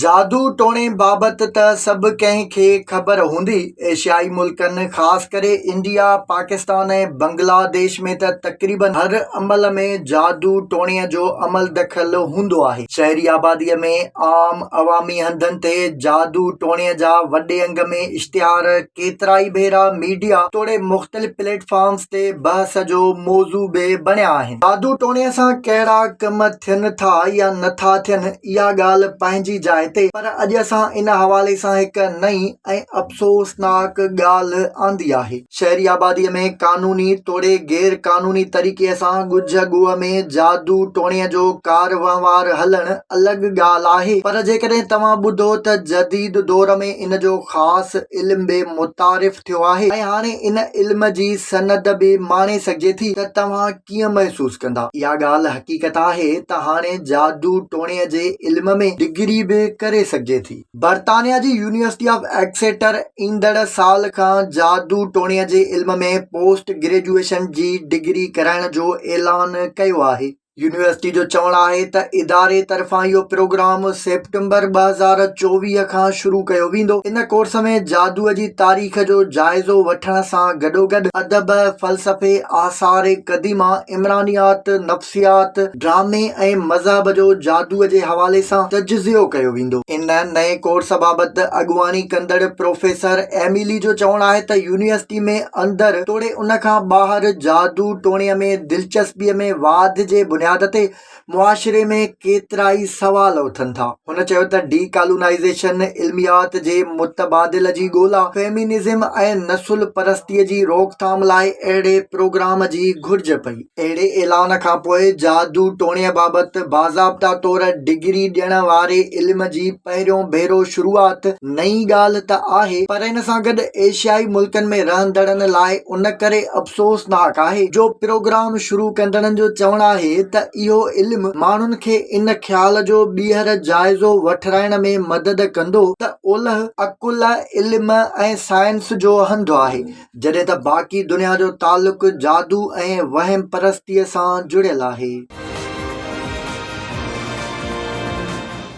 جادو ٽوڻي بابت ته سڀ ڪنهن کي خبر هوندي، ايشيائي ملڪن خاص ڪري انڊيا، پاڪستان ۽ بنگلا ديش ۾ ته تقريبن هر عمل ۾ جادو ٽوڻي جو عمل دخل هوندو آهي. شهري آبادي ۾ عام عوامي هنڌن تي جادو ٽوڻي جا وڏي انگ ۾ اشتهار ڪيترائي ڀيرا ميڊيا توڙي مختلف پليٽ فارمز تي بحث جو موضوع به بڻيا آهن. جادو ٽوڻي سان ڪهڙا ڪم ٿين ٿا يا نٿا ٿين اها ڳالهه پنهنجي جاء تي پر اڄ اسان ان حوالي سان هڪ نئين ۽ افسوسناڪ ڳالهه آندي آهي. شهري آبادي ۾ قانوني توڙي غير قانوني طريقي سان ڳجهه ڳوهه ۾ جادو ٽوڻي جو ڪار وهنوار هلڻ الڳ ڳالهه آهي پر جيڪڏهن توهان ٻڌو ته جديد دور ۾ ان جو خاص علم به متعارف ٿيو آهي ۽ هاڻي ان علم جي سند به ماڻي سگهجي ٿي ته توهان ڪيئن محسوس ڪندا؟ اها ڳالهه حقيقت آهي ته هاڻي جادو ٽوڻي جي علم ۾ ڊگري به ڪري سگهجي ٿي. برطانيا جي يونيورسٽي آف ايڪسيٽر ايندڙ سال کان جادو ٽوڻي جي علم ۾ پوسٽ گريجوئيشن جي ڊگري ڪرائڻ جو اعلان ڪيو آهي. يونيورسٽي جو چوڻ آهي ته اداري طرفان اهو پروگرام سيپٽمبر ٻه هزار چوويهه کان شروع ڪيو ويندو. ان ڪورس ۾ جادو جي تاريخ، تاريخ جو جائزو وٺڻ سان گڏوگڏ ادب، فلسفي، آثار قديمه، عمرانيات، نفسيات، ڊرامي ۽ مذهب جو جادوء جي حوالي سان تجزيو ڪيو ويندو. ان نئين ڪورس بابت اڳواڻي ڪندڙ پروفيسر ايميلي جو چوڻ آهي ته يونيورسٽي ۾ اندر توڙي ان کان ٻاهر جادو ٽوڻي ۾ دلچسپيء ۾ واڌ جي بنياد تي معاشري ۾ ڪيترائي سوال اٿن ٿا. هن چيو ته ڊي ڪالونائيزيشن، علميات جي متبادل جي ڳولا، فيمينزم ۽ نسل پرستي جي روڪٿام لاء اهڙي پروگرام جي گهرج پئي. اهڙي اعلان کانپوء جادو ٽوڻي بابت باضابطا طور ڊگري ڏيڻ واري علم جي پهريون ڀيرو شروعات نئين ڳالهه ته آهي پر ان سان گڏ ايشيائي ملڪن ۾ رهندڙن لاء ان ڪري افسوسناڪ آهي جو پروگرام شروع ڪندڙن جو چوڻ آهي ته اهو علم ماڻهن کي ان خيال جو ٻيهر جائزو وٺرائڻ ۾ مدد ڪندو ته اولهه عقل، علم ۽ سائنس جو هنڌ آهي جڏهن ته باقي دنيا جو تعلق جادو ۽ وهم پرستيء سان جڙيل آهي.